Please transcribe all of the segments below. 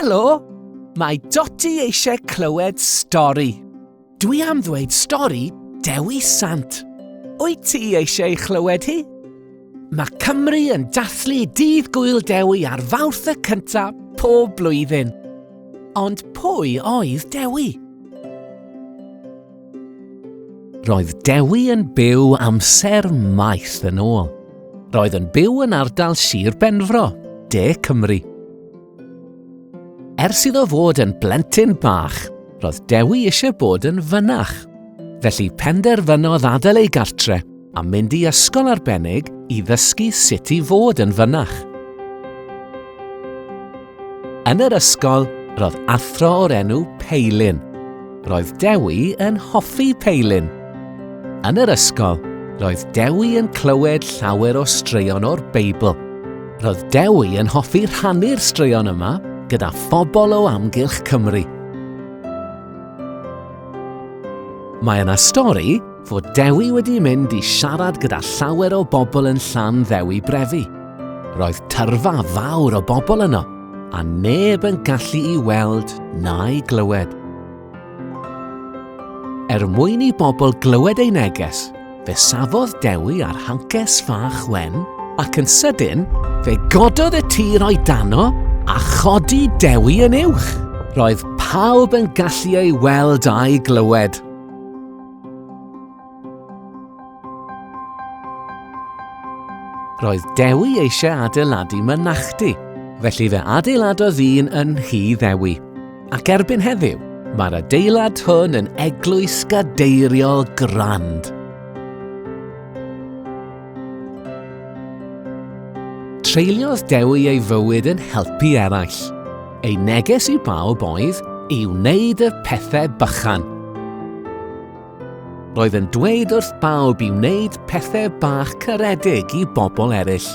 Helo! Mae Dotty eisiau clywed stori. Dwi am ddweud stori Dewi Sant. Wyt ti eisiau chlywed hi? Mae Cymru yn dathlu Dydd Gwyl Dewi ar fawrth y cyntaf pob blwyddyn. Ond pwy oedd Dewi? Roedd Dewi yn byw amser maith yn ôl. Roedd yn byw yn ardal Sir Benfro, De Cymru. Ers iddo fod yn blentyn bach, roedd Dewi eisiau bod yn fynach. Felly penderfynodd adael ei gartre a mynd i ysgol arbennig i ddysgu sut i fod yn fynach. Yn yr ysgol, roedd athro o'r enw Peilin. Roedd Dewi yn hoffi Peilin. Yn yr ysgol, roedd Dewi yn clywed llawer o straeon o'r Beibl. Roedd Dewi yn hoffi rhannu'r straeon yma gyda phobl o amgylch Cymru. Mae yna stori Fod Dewi wedi mynd i siarad gyda llawer o bobl yn llan Ddewi Brefi. Roedd tyrfa fawr o bobl yno, a neb yn gallu i weld na'i glywed. Er mwyn i bobl glywed ei neges, fe safodd Dewi ar hances fach wen, ac yn sydyn, fe gododd y tir o'i dano a chodi Dewi yn uwch. Roedd pawb yn gallu ei weld a'i glywed. Roedd Dewi eisiau adeiladu mynachdy, felly fe adeiladodd un yn Nhy Ddewi. Ac erbyn heddiw, mae'r adeilad hwn yn eglwys gadeiriol grand. Treuliodd Dewi ei fywyd yn helpu eraill. Ei neges i bawb oedd i wneud y pethau bychan. Roedd yn dweud wrth bawb i wneud pethau bach caredig i bobl eraill.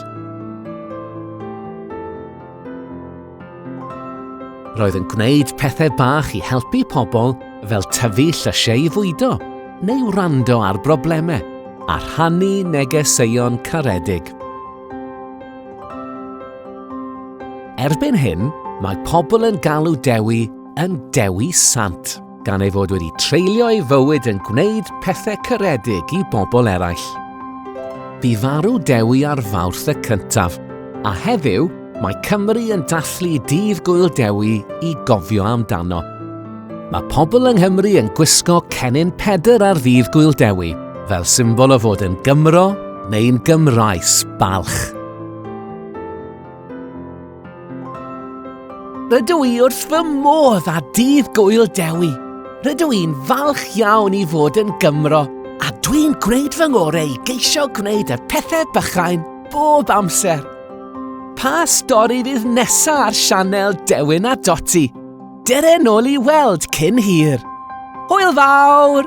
Roedd yn gwneud pethau bach i helpu pobl fel tyfu llysiau i fwydo neu wrando ar broblemau a rhannu negeseuon caredig. Erbyn hyn, mae pobl yn galw Dewi yn Dewi Sant. gan ei fod wedi treulio ei fywyd yn gwneud pethau cyredig i bobl eraill. Bu farw Dewi ar Fawrth y cyntaf, a heddiw mae Cymru yn dathlu Dydd Gwyl Dewi i gofio amdano. Mae pobl yng Nghymru yn gwisgo cennin pedr ar Ddydd Gwyl Dewi, fel symbol o fod yn Gymro neu'n Gymraes balch. Rydw i wrth fy modd â Dydd Gwyl Dewi. Rydw i'n falch iawn i fod yn Gymro a dwi'n gwneud fy ngorau i geisio gwneud y pethau bychain bob amser. Pa stori fydd nesa ar sianel Dewin a Doti? Dere nôl i weld cyn hir. Hwyl fawr!